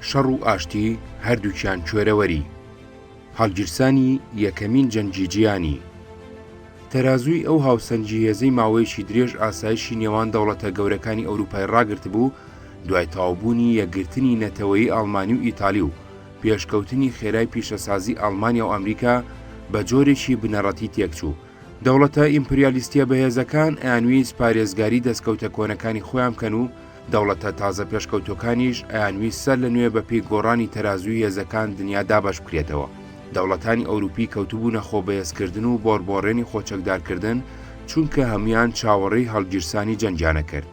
شەڕ و ئاشتی هەردووکیان کوێرەوەری هەڵگیرسانی یەکەمین جەنگی جیهانی تەرازووی ئەو هاوسەنگی هێزەی ماوەیەکی درێژ ئاسایشی نێوان دەوڵەتە گەورەکانی ئەوروپای ڕاگرت بوو دوای تاوبوونی یەکگرتنی نەتەوەی ئاڵمانی و ئیتالی و پێشکەوتنی خێرای پیشەسازی ئەڵمانیا و ئەمریکا بە جۆرێکی بنەڕەتی تێکچوو دەوڵەتە ئیمپریالیستیە بەهێزەکان ئەیانویست پارێزگاری دەستکەوتە کۆنەکانی خۆیان بکەن و دەوڵەتە تازە پێشکەوتووەکانیش ئەیانویست سەر لە نوێ بە پێی گۆڕانی تەرازووی هێزەکان دنیا دابەش بکرێتەوە. دەوڵەتانی ئەوروپی کەوتبوونە خۆ بەهێزکردن و بۆڕبۆڕێنی خۆچەکدارکردن، چونکە هەموویان چاوەڕێی هەڵگیرسانی جەنگیان ئەکرد.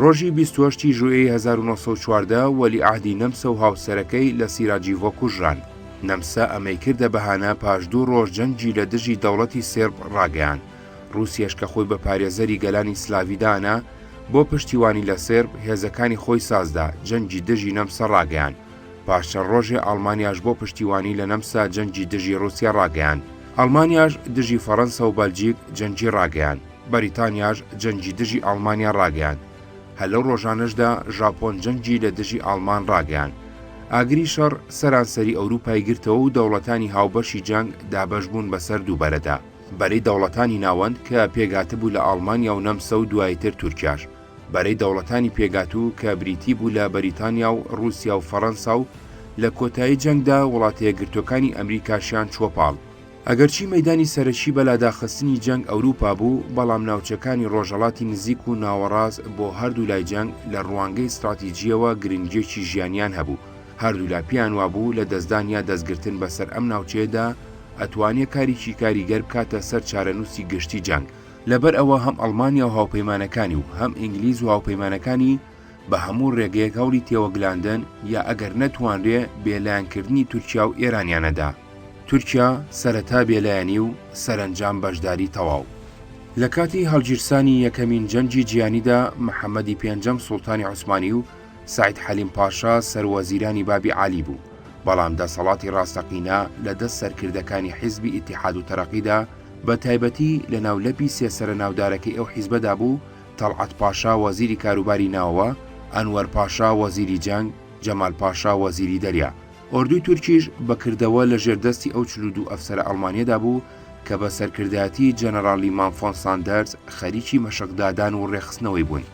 ڕۆژی بیست و هەشت ی ژوئێی هەزار و نۆ سەد و چواردە وەلیعەهدی نەمسە و هاوسەرەکەی لە سیراجیڤۆ کوژران. نەمسە ئەمەی کردە بەهانە پاش دوو ڕۆژ جەنگی لە دژی دەوڵەتی سێرب ڕاگەیاند. ڕووسیەش کە خۆی بە پارێزەری گەلانی سلاڤی دانا، بۆ پشتیوانی لە سێرب، هێزەکانی خۆی سازدا، جەنگی دژی نەمسا ڕاگەیاند. پاش چەند ڕۆژێ ئاڵمانیاش بۆ پشتیوانی لە نەمسا جەنگی دژی ڕووسیا ڕاگەیاند. ئەڵمانیاش دژی فەڕەنسا و بەلجیک جەنگی ڕاگەیاند. بەریتانیاش جەنگی دژی ئاڵمانیا ڕاگەیاند. هەر لەو ڕۆژانەشدا ژاپۆن جەنگی لە دژی ئاڵمان ڕاگەیاند. ئاگری شەڕ سەرانسەری ئەوروپای گرتەوە و دەوڵەتانی هاوبەشی جەنگ دابەش بوون بەسەر دوو بەرەدا. بەرەی دەوڵەتانی ناوەند کە پێکهاتبوو لە ئاڵمانیا و نەمسا و دواییتر تورکیاش، بەرەی دەوڵەتانی پێکاتوو کە بریتی بوو لە بەریتانیا و ڕووسیا و فەڕەنسا و لە کۆتایی جەنگدا وڵاتەیەکگرتووەکانی ئەمریکاشیان چووە پاڵ. ئەگەرچی مەیدانی سەرەکی بە لاداخستنی جەنگ ئەوروپا بوو، بەڵام ناوچەکانی ڕۆژهەڵاتی نزیک و ناوەڕاست بۆ هەردوو لای جەنگ لە ڕوانگەی ستڕاتیجییەوە گرنگییەکی ژیانیان هەبوو، هەردوولا پێیان وابوو لە دەستدان یا دەستگرتن بە سەر ئەم ناوچەیەدا ئەتوانێ کاریکی کاریگەر بکاتە سەر چارەنووسی گشتی جەنگ، لە بەر ئەوە هەم ئەڵمانیا و هاوپەیمانەکانی و هەم ئینگلیز و هاوپەیمانەکانی بە هەموو رێگەیەک هەوڵی تێوەگلاندن یا ئەگەر نەتوانرێ بێ لایەن کردنی تورکیا و ئێرانیان ئەدا. تورکیا سەرەتا بێ لایەنی و سەرەنجام بەشداری تەواو. لە کاتی هەڵگیرسانی یەکەمین جەنگی جیهانیدا محەمەدی پێنجەم سوڵتانی عوسمانی و، سەعید حەلیم پاشا سەروەزیرانی بابی عەلی بوو، بەڵام دەسەڵاتی ڕاستەقینە لە دەست سەرکردەکانی حیزبی ئیتیحاد و تەرەقیدا، بە تایبەتی لە ناو لەپی سێ سەرە ناودارەکەی ئەو حیزبەدا بوو، تەڵعەت پاشا وەزیری کاروباری ناوەوە، ئەنوەر پاشا وەزیری جەنگ، جەمال پاشا وەزیری دەریا. ئۆردووی تورکیش بە کردەوە لە ژێر دەستی ئەو چل و دوو ئەفسەرە ئەڵمانیەدا بوو کە بە سەرکردایەتی جەنەرالی مانفۆن ساندەرز خەریکی مەشق دادان و ڕێکخستنەوەی بوون.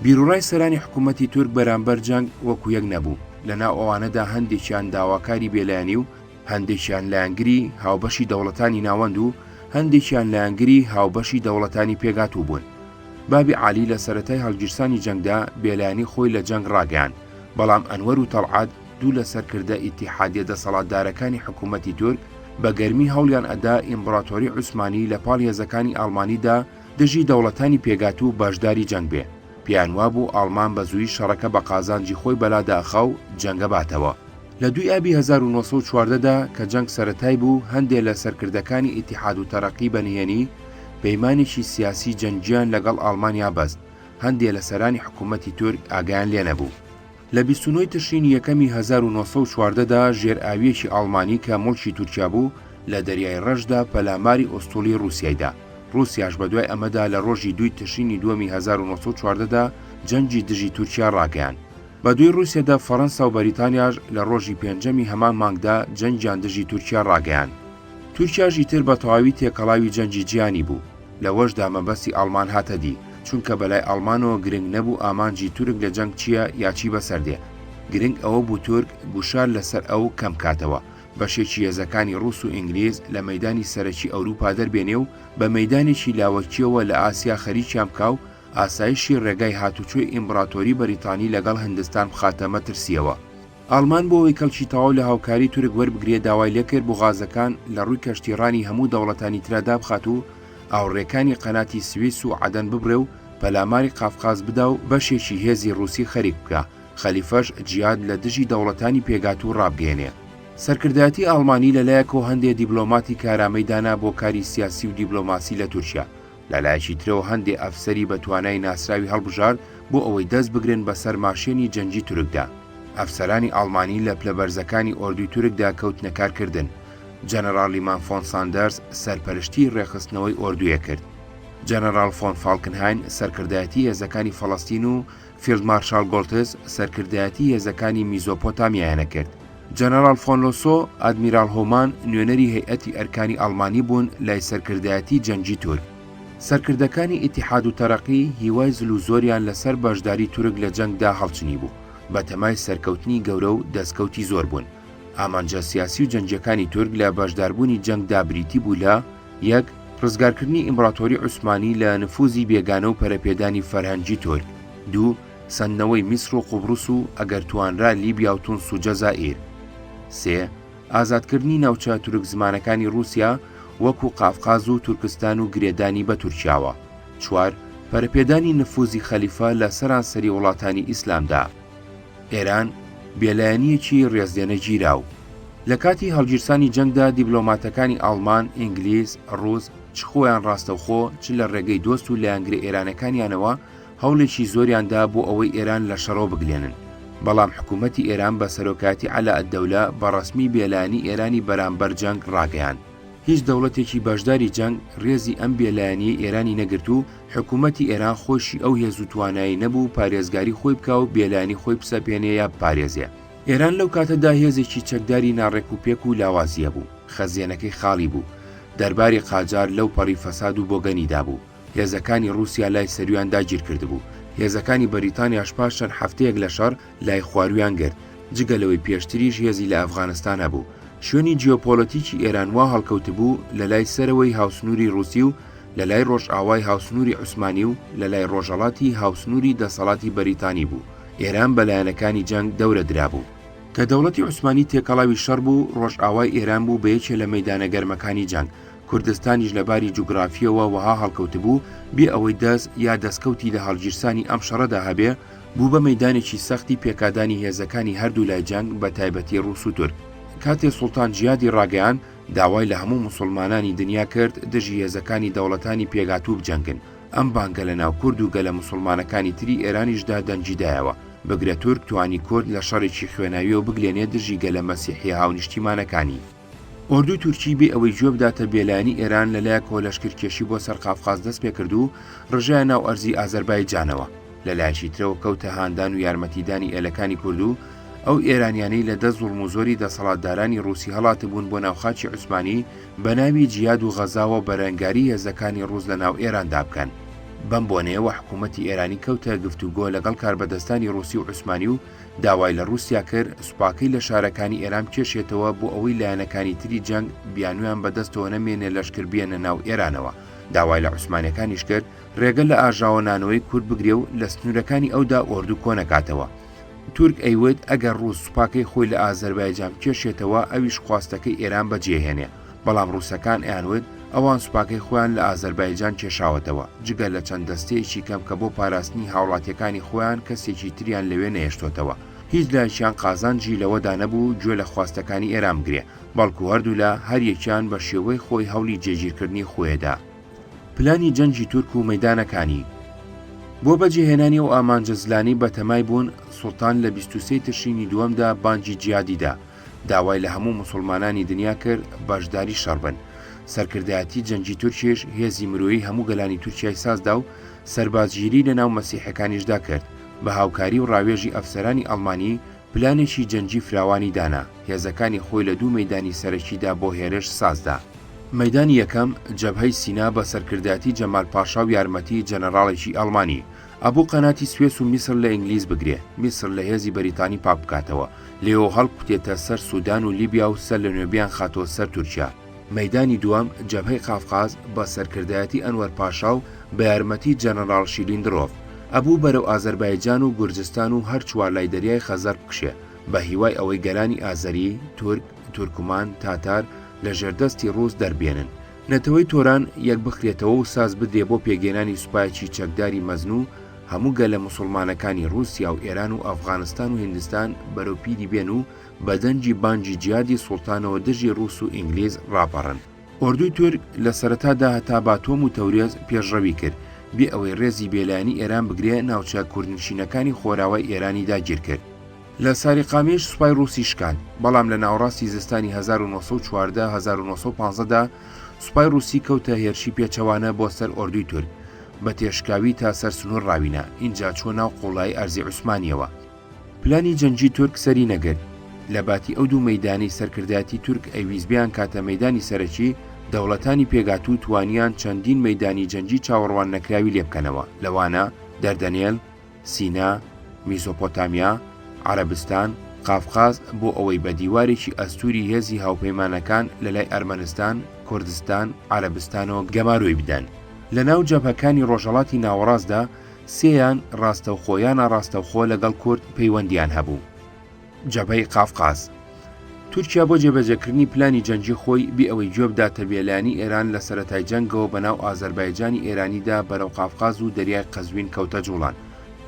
بیروڕای سەرانی حکوومەتی تورک بەرامبەر جەنگ وەکو یەک نەبوو، لە ناو ئەوانەدا هەندێکیان داواکاری بێلایەنی و هەندێکیان لایەنگری هاوبەشی دەوڵەتانی ناوەند و هەندێکیان لایەنگری هاوبەشی دەوڵەتانی پێکهاتوو بوون. بابی عالی لە سەرەتای هەڵگیرسانی جەنگدا بێلایەنی خۆی لە جەنگ ڕاگەیاند، بەڵام ئەنوەر و تەڵعەت دوو لە سەرکردە ئیتیحادییە دەسەڵاتدارەکانی حکوومەتی تورک بە گەرمی هەوڵیان ئەدا ئیمبڕاتۆری عوسمانی لە پاڵ هێزەکانی ئاڵمانیدا دژی دەوڵەتانی پێگاتوو و بەشداری جەنگ بێ، پێیان وابوو ئاڵمان بە زوویی شەڕەکە بە قازانجی خۆی بەلا داخا و جەنگە باتەوە. لە دووی ئابی هەزار و نۆ سەد و چواردە دا کە جەنگ سەرەتای بوو، هەندێ لە سەرکردەکانی ئیتیحاد و تەرەقی بە نهێنی پەیمانێکی سیاسی جەنگییان لە گەڵ ئاڵمانیا بەست، هەندێ لە سەرانی حکوومەتی تورک ئاگایان لێ نەبوو. لە بیست و نۆ ی تشرینی یەکەمی هەزار و نۆ سەد و چواردە دا ژێرئاوییەکی ئاڵمانی کە موڵکی تورکیا بوو لە دەریای ڕەشدا پەلاماری ئوستوڵی ڕووسیای دا. ڕووسیاش بە دوای ئەمەدا لە ڕۆژی دووی تشرینی دووەمی هەزار و نۆ سەد و چواردە دا جەنگی دژی تورکیا ڕاگەیاند. بە دووی ڕووسیادا فەڕەنسا و بەریتانیاش لە ڕۆژی پێنجەمی هەمان مانگدا جەنگیان دژی تورکیا ڕاگەیاند. تورکیاش ئیتر بە تەواوی تێکەڵاوی جەنگی جیهانی بوو. لەوەشدا مەبەستی ئاڵمان هاتە دی، چونکە بەلای ئاڵمانەوە گرنگ نەبوو ئامانجی تورک لە جەنگ چییە یا چی بەسەر دێ، گرنگ ئەوە بوو تورک گوشار لەسەر ئەو کەم کاتەوە، بەشێکی هێزەکانی ڕووس و ئینگلیز لە مەیدانی سەرەکی ئەوروپا دەربێنێ و بە مەیدانێکی لاوەکییەوە لە ئاسیا خەریکیان بکا و ئاسایشی ڕێگای هاتوچۆی ئیمبڕاتۆری بەریتانی لەگەڵ هندستان بخاتە مەترسییەوە. ئاڵمان بۆ ئەوەی کەڵکی تەواو لە هاوکاری تورک وەربگرێ داوای لێکرد بوغازەکان لە ڕووی کەشتی ڕانی هەموو دەوڵەتانی ترا دابخات و ئاوڕێکانی قەناتی سویس و عەدەن ببڕێ و پەلاماری قافقاز بدا و بەشێکی هێزی ڕووسی خەریک بکا خەلیفەش جیاد لە دژی دەوڵەتانی پێکاتوو ڕابگەیەنێ. سەرکردایەتی ئاڵمانی لە لایەکەوە هەندێ دیبلۆماتی کارامەی دانا بۆ کاری سیاسی و دیبلۆماسی لە تورکیا، لە لایەکی ترەوە هەندێ ئەفسەری بە توانای ناسراوی هەڵبژارد بۆ ئەوەی دەست بگرن بە سەر ماشێنی جەنگی تورکدا. ئەفسەرانی ئاڵمانی لە پلە بەرزەکانی ئۆردوی تورکدا کەوتنە کار کردن. جەنەڕاڵ لیمان فۆن ساندەرز سەرپەرشتیی ڕێکخستنەوەی ئۆردویەک کرد. جەنەڕاڵ فۆن فاڵکنهاین سەرکردایەتی هێزەکانی فەڵەستین و فیلد مارشاڵ گۆڵتز سەرکردایەتی هێزەکانی میزۆپۆتامیایانە کرد. جەنەراڵ فۆن لۆسۆ، ئادمیراڵ هۆمان، نوێنەری هەیئەتی ئەرکانی ئەڵمانی بوون لای سەرکردایەتی جەنگی تورک. سەرکردەکانی ئیتیحاد و تەرەقی هیوای زل و زۆریان لەسەر بەشداری تورک لە جەنگدا هەڵچنیبوو، بەتەمای سەرکەوتنی گەورە و دەستکەوتی زۆر بوون. ئامانجە سیاسی و جەنگیەکانی تورک لە بەشداربوونی جەنگدا بریتی بوو لە. یەک، ڕزگارکردنی ئیمبڕاتۆری عوسمانی لە نفوزی بێگانە و پەرەپێدانی فەرهەنگی تورک. دوو، سەندنەوەی میسر و قوبڕس و ئەگەر توانرا لیبیا و تونس و جەزائیر. سێ، ئازادکردنی ناوچە تورک زمانەکانی ڕووسیا وەکوو قافقاز و تورکستان و گرێدانی بە تورکیاوە. چوار، پەرەپێدانی نفوزی خەلیفە لە سەرانسەری وڵاتانی ئیسلامدا. ئێران بێلایەنییەکی ڕێزلێنە گیراو. لە کاتی هەڵگیرسانی جەنگدا دیبلۆماتەکانی ئاڵمان، ئینگلیز، ڕووس چ خۆیان ڕاستەوخۆ چ لە ڕێگەی دۆست و لایەنگرە ئێرانەکانیانەوە هەوڵێکی زۆریان دا بۆ ئەوەی ئێران لە شەڕەوە بگلێنن، بەڵام حکوومەتی ئێران بە سەرۆکایەتی عەلائەددەولە بە ڕەسمی بێلایەنی ئێرانی بەرانبەر جەنگ ڕاگەیاند. هیچ دەوڵەتێکی بەشداری جەنگ رێزی ئەم بێلایەنیەی ئێرانی نەگرت و حکوومەتی ئێران خۆیشی ئەو هێز و توانایی نەبوو پارێزگاری خۆی بکا و بێلایەنی خۆی بسەپێنێ یا بپارێزێ. ئێران لەو کاتەدا هێزێکی چەکداری ناڕێک و پێک و لاوازی هەبوو، خەزێنەکەی خاڵی بوو، دەرباری قاجار لەو پەڕی فەساد و بۆگەنی دابوو، هێزەکانی رووسیا لای سەرویان داگیر کردبوو، هێزەکانی بەریتانیاش پاش چەند هەفتەیەک لە شەڕ، لای خوارویان گرت، جگە لەوەی پێشتریش هێزی لە ئەفغانستان هەبوو، شوێنی جیۆپۆلەتیکی ئێران وا هەڵکەوتبوو لە لای سەرەوەی هاوسنووری ڕووسی و لە لای ڕۆژئاوای هاوسنووری عوسمانی و لە لای ڕۆژەڵاتی هاوسنووری دەسەڵاتی بەریتانی بوو، ئێران بە لایەنەکانی جەنگ دەورە درابوو. کە دەوڵەتی عوسمانی تێکەڵاوی شەڕ بوو، ڕۆژئاوای ئێران بوو بە یەکێ لە مەیدانە گەرمەکانی جەنگ، کوردستانیش لە باری جوگرافییەوە وەها هەڵکەوتبوو، بێ ئەوەی دەست یا دەستکەوتی لە هەڵگیرسانی ئەم شەڕەدا هەبێ، بوو بە مەیدانێکی سەختی پێکادانی هێزەکانی هەردوو لای جەنگ بە تایبەتی ڕووس و تورک. کاتێ سوڵتان جیادی ڕاگەیاند، داوای لە هەموو موسوڵمانانی دنیا کرد دژی هێزەکانی دەوڵەتانی پێکهاتوو بجەنگن، ئەم بانگە لە ناو کورد و گەلە موسوڵمانەکانی تری ئێرانیشدا دەنگی دایەوە، بگرە تورک توانی کورد لە شەڕێکی خوێناوییەوە بگلێنێ دژی گەلە مەسیحییە هاونیشتیمانەکانی. ئۆردووی تورکی بێ ئەوەی گوێ بداتە بێلایەنی ئێران لە لایەکەوە لەشکرکێشی بۆ سەر قافقاز دەست پێ کرد و ڕژایە ناو ئەرزی ئازەربایجانەوە لە لایەکی ترەوە کەوتە هاندان و یارمەتیدانی ئێلەکانی کورد و ئەو ئێرانیانەی لە دە زوڵم و زۆری دەسەڵاتدارانی ڕووسی هەڵاتبوون بۆ ناوخاچی عوسمانی بە ناوی جیاد و غەزاوە بەرەنگاری هێزەکانی ڕووس لە ناو ئێراندا بکەن. بەم بۆنەیەوە حکوومەتی ئێرانی کەوتە گفتوگۆ لەگەڵ کاربەدەستانی ڕووسی و عوسمانی و داوای لە ڕووسیا کرد سوپاکەی لە شارەکانی ئێران بکێشێتەوە بۆ ئەوەی لایەنەکانی تری جەنگ بیانویان بەدەستەوە نەمێنێ لەشکر بێنە ناو ئێرانەوە داوای لە عوسمانەکانیش کرد ڕێگە لە ئاژاوە نانەوەی کورد بگرێ و لە سنوورەکانی ئەودا ئۆردو کۆنەکاتەوە تورک ئەیوت ئەگەر ڕووس سوپاکەی خۆی لە ئازەربایجان کێشێتەوە ئەویش خواستەکەی ئێران بەجێهێنێ بەڵام ڕووسەکان ئەیانوت ئەوان سوپاکەی خۆیان لە ئازەربایجان کێشاوەتەوە، جگە لە چەند دەستەیەکی کەم کە بۆ پاراستنی هاوڵاتییەکانی خۆیان کەسێکی تریان لەوێ نەهێشتۆتەوە. هیچ لایەکیان قازانجی لەوەدا نەبوو گوێ لە خواستەکانی ئێران بگرێ، بەڵکو هەردوولا هەر یەکیان بە شێوەی خۆی هەوڵی جێگیرکردنی خۆێدا. پلانی جەنگی تورک و مەیدانەکانی. بۆ بەجێهێنانی ئەو ئامانجە زلانەی بەتەمای بوون، سوڵتان لە بیست و سێ تشرینی دووەمدا بانگی جیهادی دا، داوای لە هەموو موسوڵمانانی دنیا کرد بەشداری شەڕ بن. سەرکردایەتی جەنگی تورکیش هێزی مرۆیی هەموو گەلانی تورکیای سازدا و سەربازگیری لە ناو مەسیحەکانیشدا کرد، بە هاوکاری و ڕاوێژی ئەفسەرانی ئەڵمانی پلانێکی جەنگی فراوانی دانا، هێزەکانی خۆی لە دوو مەیدانی سەرەکیدا بۆ هێرش سازدا. مەیدانی یەکەم، جەبهەی سینا بە سەرکردایەتی جەمال پاشا و یارمەتی جەنەراڵێکی ئەڵمانی، ئەبوو قەناتی سوێس و میسر لە ئینگلیز بگرێ، میسر لە هێزی بەریتانی پاک بکاتەوە، لێیەوە هەڵکوتێتە سەر سودان و لیبیا و سەر لەنوێ بیانخاتەوە سەر تورکیا. مەیدانی دووەم، جەبهەی قافقاز، بە سەرکردایەتی ئەنوەر پاشا و بە یارمەتی جەنەراڵ شیلیندرۆف، ئەبوو بەرەو ئازەربایجان و گورجستان و هەر چوار لای دەریای خەزەر بکشێ، بە هیوای ئەوەی گەلانی ئازەری، تورک، تورکمان، تاتار، لە ژێردەستی ڕووس دەربێنن. نەتەوەی تۆران یەک بخرێتەوە و ساز بدرێ بۆ پێکهێنانی سوپایەکی چەکداری مەزن و هەموو گەلە موسوڵمانەکانی ڕووسیا و ئێران و ئەفغانستان و هیندستان بەرەو پیری بێن و بە دەنگی بانگی جیادی سوڵتانەوە دژی ڕووس و ئینگلیز ڕاپەڕن. ئۆردووی تورک لە سەرەتادا هەتا باتۆم و تەورێز پێشڕەوی کرد، بێ ئەوەی ڕێزی بێلایەنی ئێران بگرێ ناوچە کوردنشینەکانی خۆراوای ئێرانی داگیر کرد. لە ساریقامیش سوپای ڕووسی شکاند، بەڵام لە ناوەڕاستی زستانی هەزار و نۆ سەد و چواردە هەزار و نۆ سەد و پازدە دا سوپای ڕووسی کەوتە هێرشی پێچەوانە بۆ سەر ئۆردووی تورک، بە تێشکاوی تا سەر سنوور ڕاوینا، ئینجا چووە ناو قووڵایی ئەرزی عوسمانییەوە. پلانی جەنگی تورک سەری نەگرت. لە باتی ئەو دوو مەیدانەی سەرکردایەتی تورک ئەیویست بیانکاتە مەیدانی سەرەکی، دەوڵەتانی پێکهاتوو توانیان چەندین مەیدانی جەنگی چاوەڕوان نەکراوی لێ بکەنەوە، لەوانە، دەردەنێل، سینا، میسۆپۆتامیا، عەرەبستان، قافقاز بۆ ئەوەی بە دیوارێکی ئەستووری هێزی هاوپەیمانەکان لە لای ئەرمەنستان، کوردستان، عەرەبستانەوە گەمارۆی بدەن. لە ناو جەبهەکانی ڕۆژهەڵاتی ناوەڕاستدا سێیان ڕاستەوخۆ یا ناڕاستەوخۆ لەگەڵ کورد پەیوەندییان هەبوو. جەبهەی قافقاز. تورکیا بۆ جێبەجێکردنی پلانی جەنگی خۆی بێ ئەوەی گوێ بداتە بێلایەنی ئێران لە سەرەتای جەنگەوە بە ناو ئازەربایجانی ئێرانیدا بەرەو قافقاز و دەریای قەزوین کەوتە جووڵان.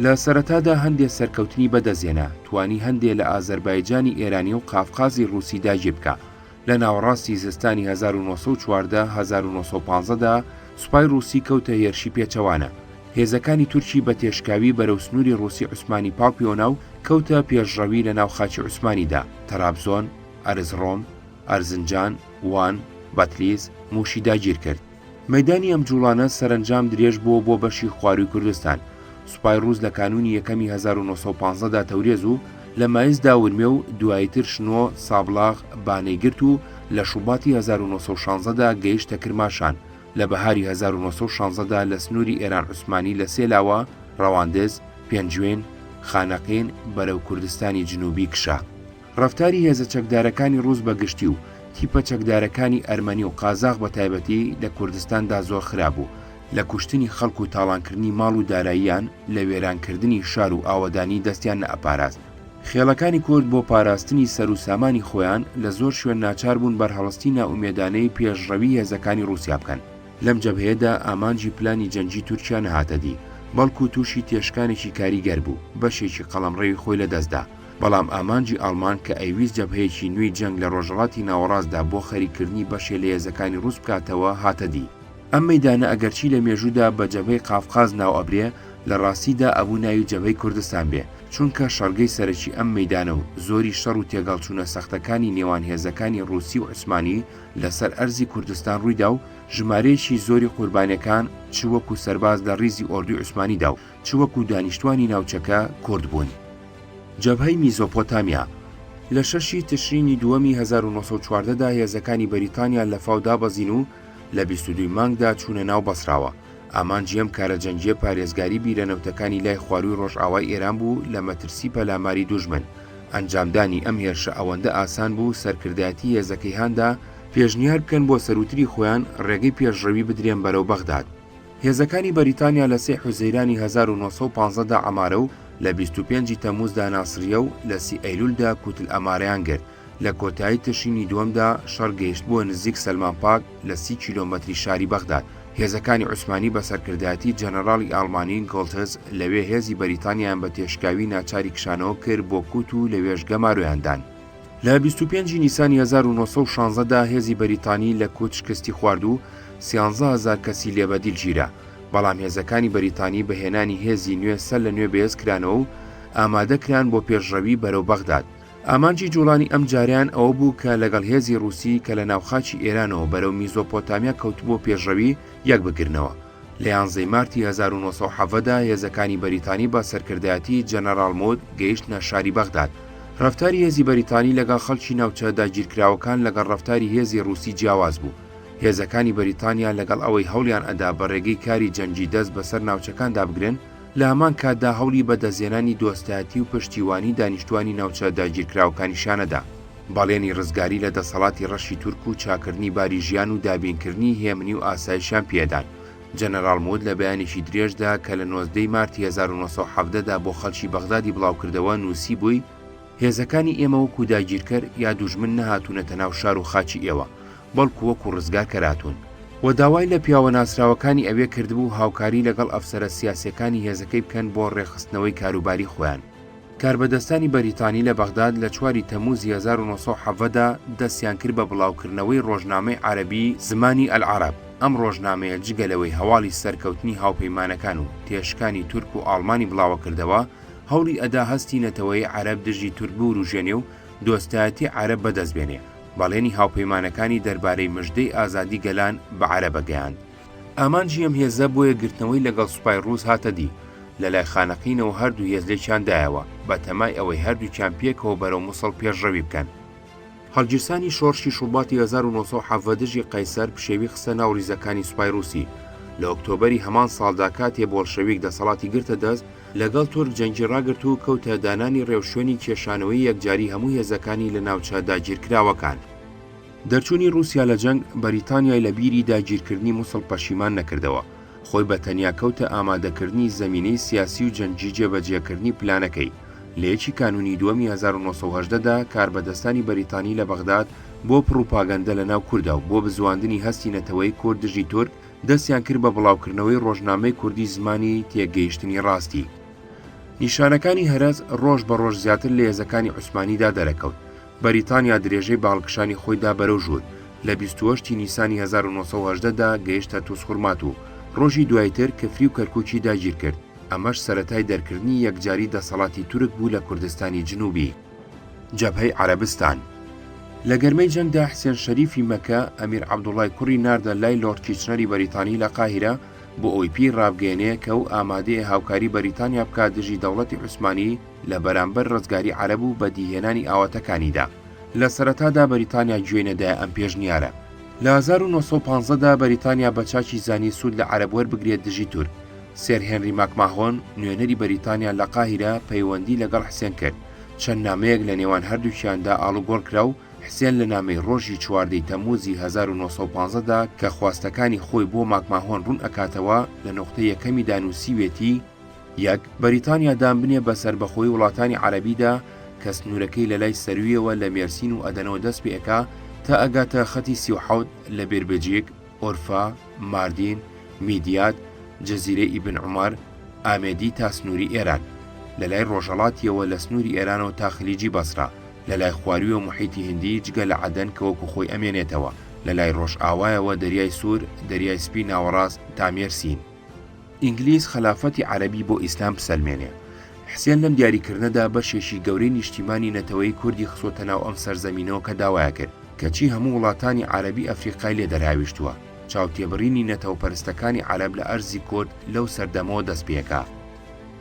لە سەرەتادا هەندێ سەرکەوتنی بەدەستهێنا، توانی هەندێ لە ئازەربایجانی ئێرانی و قافقازی ڕووسی داگیر بکا، لە ناوەڕاستی زستانی هەزار و نۆ سەد و چواردە هەزار و نۆ سەد و پازدە دا سوپای ڕووسی کەوتە هێرشی پێچەوانە، هێزەکانی تورکی بە تێشکاوی بەرەو سنووری ڕووسی عوسمانی پاڵپیۆنا و کەوتە پێشڕەوی لە ناو خاکی عوسمانی دا، تەرابزۆن، ئەرزڕۆم، ئەرزنجان، وان، بەتلیس، مووشی داگیر کرد. مەیدانی ئەم جووڵانە سەرەنجام درێژ بووە بۆ بەشی خوارووی کوردستان. سوپای ڕووس لە کانوونی یەکەمی هەزار و نۆ سەد و پازدە دا تەورێز و لە مایسدا ورمێ و دواییتر شنۆ، سابڵاغ، بانەی گرت و لە شوباتی هەزار و نۆ سەد و شانزە دا گەیشتە کرماشان، لە بەهاری هەزار و نۆ سەد و شانزە دا لە سنووری ئێران عوسمانی لە سێ لاوە، ڕەواندز، پێنجوێن، خانەقین، بەرەو کوردستانی جنووبی کشا. ڕەفتاری هێزە چەکدارەکانی ڕووس بە گشتی و تیپە چەکدارەکانی ئەرمەنی و قازاخ بە تایبەتی لە کوردستاندا زۆر خراپ بوو، لە کوشتنی خەڵک و تاڵانکردنی ماڵ و داراییان، لە وێرانکردنی شار و ئاوەدانی دەستیان نەئەپاراست. خێڵەکانی کورد بۆ پاراستنی سەر و سامانی خۆیان لە زۆر شوێن ناچار بوون بەرهەڵستی نائومێدانەی پێشڕەوی هێزەکانی ڕووسیا بکەن. لەم جەبهەیەدا ئامانجی پلانی جەنگی تورکیا نەهاتە دی، بەڵکوو تووشی تێشکانێکی کاریگەر بوو، بەشێکی قەڵەمڕەوی خۆی لەدەست دا. بەڵام ئامانجی ئاڵمان کە ئەیویست جەبهەیەکی نوێی جەنگ لە ڕۆژەڵاتی ناوەڕاستدا بۆ خەریککردنی بەشێ لە هێزەکانی ڕووس بکاتەوە هاتە دی. ئەم مەیدانە ئەگەرچی لە مێژوودا بە جەبهەی قافقاز ناو ئەبرێ، لە ڕاستیدا ئەبوو ناوی جەبهەی کوردستان بێ، چونکە شەڕگەی سەرەکی ئەم مەیدانە و زۆری شەڕ و تێگەهڵچوونە سەختەکانی نێوان هێزەکانی ڕووسی و عوسمانی لە سەر ئەرزی کوردستان ڕوویدا و ژمارەیەکی زۆری قوربانیەکان چ وەکوو سەرباز لە ڕیزی ئۆردوی عوسمانیدا و چ وەکو دانیشتوانی ناوچەکە کورد بوون. جەبهەی میزۆپۆتامیا، لە شەش ی تشرینی دووەمی هەزار و نۆ سەد و چواردە دا هێزەکانی بەریتانیا لە فاو دابەزین و لە بیست و دوو ی مانگدا چوونە ناو بەسراوە، ئامانجی ئەم کارە جەنگییە پارێزگاری بیرە نەوتەکانی لای خوارووی ڕۆژئاوای ئێران بوو لە مەترسی پەلاماری دوژمن، ئەنجامدانی ئەم هێرشە ئەوەندە ئاسان بوو سەرکردایەتی هێزەکەی هاندا پێشنیار بکەن بۆ سەرووتری خۆیان ڕێگەی پێشڕەوی بدرێن بەرەو بەغداد. هێزەکانی بەریتانیا لە سێ حوزەیرانی هەزار و نۆ سەد و پازدە دا عەمارە و لە بیست و پێنجی تەمووزدا ناسریە و لە سی ئەیلوولدا کوتل ئەمارەیان گرت، لە کۆتایی تشرینی دووەمدا شەڕ گەیشتبووە نزیک سەلمان پاک لە سی کیلۆمەتری شاری بەغداد، هێزەکانی عوسمانی بە سەرکردایەتی جەنەراڵی ئاڵمانی گۆڵتز لەوێ هێزی بەریتانیایان بە تێشکاوی ناچاری کشانەوە کرد بۆ کوت و لەوێش گەمارۆیان دان. لە بیست و پێنجی نیسانی هەزار و نۆ سەد و شانزە دا هێزی بەریتانی لە کوت شکستی خوارد و سیانزە هەزار کەسی لێ بە دیل گیرا، بەڵام هێزەکانی بەریتانی بە هێنانی هێزی نوێ سەر لە نوێ بەهێز کرانەوە و ئامادە کران بۆ پێشڕەوی بەرەو بەغداد. ئامانجی جووڵانی ئەم جارەیان ئەوە بوو کە لەگەڵ هێزی ڕووسی کە لە ناو خاکی ئێرانەوە بەرەو میزۆپۆتامیا کەوتبووە پێشڕەوی، یەک بگرنەوە. لە یانزەی مارتی هەزار و نۆ سەد و حەڤە دا هێزەکانی بەریتانی بە سەرکردایەتی جەنەراڵ مود گەیشتنە شاری بەغداد. رەفتاری هێزی بەریتانی لەگەڵ خەڵکی ناوچە داگیرکراوەکان لەگەڵ رەفتاری هێزی رووسی جیاواز بوو. هێزەکانی بەریتانیا لەگەڵ ئەوەی هەوڵیان ئەدا بە رێگەی کاری جەنگی دەست بەسەر ناوچەکاندا بگرن، لە هەمان کاتدا هەوڵی بەدەستهێنانی دۆستایەتی و پشتیوانی دانیشتوانی ناوچە داگیرکراوەکانیشان ئەدا. بەڵێنی ڕزگاری لە دەسەڵاتی ڕەشی تورک و چاکردنی باری ژیان و دابینکردنی هێمنی و ئاسایشیان پێ ئەدان. جەنەراڵ موود لە بەیانێکی درێژدا کە لە نۆزدە ی مارتی هەزار و نۆ سەد و حەڤدە دا بۆ خەڵکی بەغدادی بڵاوکردەوە نووسیبووی، هێزەکانی ئێمە وەکوو داگیرکەر یا دوژمن نەهاتوونەتە ناو شار و خاکی ئێوە، بەڵکو وەکو ڕزگار کەراتون و داوای لە پیاوە ناسراوەکانی ئەوێ کردبوو هاوکاری لەگەڵ ئەفسەرە سیاسیەکانی هێزەکەی بکەن بۆ ڕێکخستنەوەی کاروباری خۆیان. کاربەدەستانی بەریتانی لە بەغداد لە چواری تەمووزی هەزار و نۆ سەد و حەڤدە دا دەستیان کرد بە بڵاوکردنەوەی ڕۆژنامەی عەرەبی زمانی ئەلعەرەب، ئەم ڕۆژنامەیە جگە لەوەی هەواڵی سەرکەوتنی هاوپەیمانەکان و تێشکانی تورک و ئاڵمانی بڵاوەکردەوە، هەوڵی ئەدا هەستی نەتەوەیی عەرەب دژی تورک بوروژێنێ و دۆستایەتی عەرەب بەدەست بێنێ. بەڵێنی هاوپەیمانەکانی دەربارەی مژدەی ئازادی گەلان بە عەرەبە گەیاند. ئامانجی ئەم هێزە بۆ یەکگرتنەوەی لەگەڵ سوپای ڕووس هاتە دی، لەلای خانەقینەوە هەردوو هێز لێکیان دایەوە، بەتەمای ئەوەی هەردووکیان پێکەوە بەرەو موسڵ پێشڕەوی بکەن. هەڵگیرسانی شۆڕشی شوباتی هەزار و نۆ سەد و حەڤدە دژی قەیسەر پشێوی خستە ناو ڕیزەکانی سوپای ڕووسی. لە ئۆکتۆبەری هەمان ساڵدا کاتێ بۆڵشەویک دەسەڵاتی گرتە دەست، لەگەڵ تورک جەنگی ڕاگرت و کەوتە دانانی ڕێوشوێنی کێشانەوەی یەکجاری هەموو هێزەکانی لە ناوچە داگیرکراوەکان. دەرچوونی ڕووسیا لە جەنگ، بەریتانیای لە بیری داگیرکردنی موسڵ پەشیمان نەکردەوە، خۆی بە تەنیا کەوتە ئامادەکردنی زەمینەی سیاسی و جەنگی جێبەجێکردنی پلانەکەی، لە یەکی کانوونی دووەمی هەزار و نۆ سەد و هەژدە دا کاربەدەستانی بەریتانی لە بەغداد بۆ پڕوپاگەندە لەناو کوردا و بۆ بزواندنی هەستی نەتەوەی کورد دژی تورک، دەستیان کرد بە بڵاوکردنەوەی ڕۆژنامەی کوردی زمانی تێگەیشتنی ڕاستی. نیشانەکانی هەرەس ڕۆژ بە ڕۆژ زیاتر لە هێزەکانی عوسمانیدا دەرەکەوت، بەریتانیا درێژەی بە هەڵکشانی خۆیدا بەرەو ژوور، لە بیست و هەشت ی نیسانی هەزار و نۆ سەد و هەژدە دا گەیشتە توسخورمات و ڕۆژی دواییتر کفری و کەرکوکی داگیرکرد، ئەمەش سەرەتای دەرکردنی یەکجاری دەسەڵاتی تورک بوو لە کوردستانی جنوبی. جەبهەی عەرەبستان لە گەرمەی جەنگدا حسێن شەریفی مەکە ئەمیر عەبدوڵای کوڕی ناردە لای لۆرد کیچنەری بەریتانی لە قاهیرە بۆ ئەوەی پێی ڕابگەیەنێ کە ئەو ئامادەیە هاوکاری بەریتانیا بکات دژی دەوڵەتی عوسمانی لە بەرامبەر ڕزگاری عەرەب و بەدیهێنانی ئاواتەکانیدا. لە سەرەتادا بەریتانیا گوێی نەدایە ئەم پێشنیارە. لە هەزار و نۆ سەد و پازدە دا بەریتانیا بە چاکی زانی سوود لە عەرەب وەربگرێت دژی تورک، سێر هێنری ماکماهۆن، نوێنەری بەریتانیا لە قاهیرە پەیوەندی لەگەڵ حسێن کرد، چەند نامەیەک لە نێوان هەردووکیاندا ئاڵوگۆڕ کرا و حسێن لە نامەی ڕۆژی چواردە ی تەممووزی هەزار و نۆ سەد و پازدە دا کە خواستەکانی خۆی بۆ ماکماهۆن ڕوون ئەکاتەوە لە نوقتەی یەکەمیدا نووسیوێتی یەک، بەریتانیا دان بنێ بە سەربەخۆیی وڵاتانی عەرەبیدا کە سنوورەکەی لە لای سەروویەوە لە مێرسین و ئەدەنەوە دەست پێ ئەکا تا ئەگاتە خەتی سی و حەوت لە بێربجیک، ئۆرفا، ماردین، میدیاد، جزیرەی ئیبن عومەر، ئامێدی تا سنووری ئێران، لە لای ڕۆژهەڵاتییەوە لە سنووری ئێرانەوە تا خلیجی بەسرە، لە لای خواروویەوە موحیتی هیندی جگە لە عەدەن کە وەکوو خۆی ئەمێنێتەوە، لە لای ڕۆژئاوایەوە دەریای سوور، دەریای سپی ناوەڕاست تا مێرسین. ئینگلیز خەلافەتی عەرەبی بۆ ئیسلام بسەلمێنێ. حسێن لەم دیاریکردنەدا بەشێکی گەورەی نیشتیمانی نەتەوەیی کوردی خستۆتە ناو ئەم سەرزەمینەوە کە داوایەکرد کەچی هەموو وڵاتانی عەرەبی ئەفریقای لێ دەرهاویشتووە چاوتێبڕینی نەتەوەپەرستەکانی عەرەب لە ئەرزی کورد لەو سەردەمەوە دەست پێکا.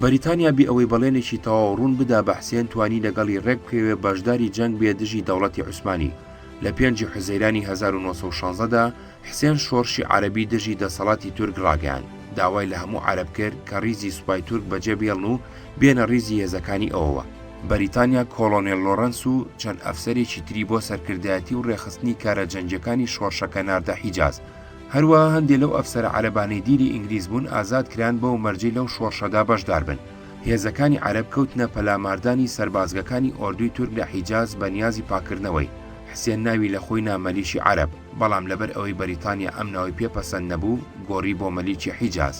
بەریتانیا بێ ئەوەی بەڵێنێکی تەواو ڕوون بدا بە حسێن توانی لەگەڵی ڕێک بکەوێ بەشداری جەنگ بێ دژی دەوڵەتی عوسمانی لە پێنجی حوزەیرانی هەزار و نۆ سەد و شازدە دا، حسێن شۆڕشی عەرەبی دژی دەسەڵاتی تورک ڕاگەیاند، داوای لە هەموو عەرەب کرد کە ڕیزی سوپای تورک بەجێ بێڵن و بێنە ڕیزی هێزەکانی ئەوەوە. بەریتانیا کۆڵۆنێل لۆڕەنس و چەند ئەفسەرێکی تری بۆ سەرکردایەتی و ڕێکخستنی کارە جەنگییەکانی شۆڕشەکە ناردە حیجاز. هەروەها هەندێ لەو ئەفسەرە عەرەبانەی دیلی ئینگلیز بوون ئازاد کران بەو مەرجەی لەو شۆڕشەدا بەشدار بن. هێزەکانی عەرەب کەوتنە پەلاماردانی سەربازگەکانی ئۆردوی تورک لە حیجاز بە نیازی پاککردنەوەی، حسێن ناوی لە خۆی نا مەلیکی عەرەب، بەڵام لەبەر ئەوەی بەریتانیا ئەم ناوەی پێ پەسەند نەبوو، گۆڕی بۆ مەلیکی حیجاز.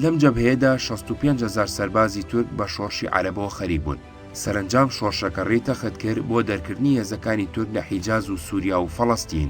لەم جەبهەیەدا شەست و پێنج هەزار سەربازی تورک بە شۆڕشی عەرەبەوە خەریک بوون. سەرەنجام شۆڕشەکە ڕێی تەخت کرد بۆ دەرکردنی هێزەکانی تورک لە حیجاز و سوریا و فەڵەستین.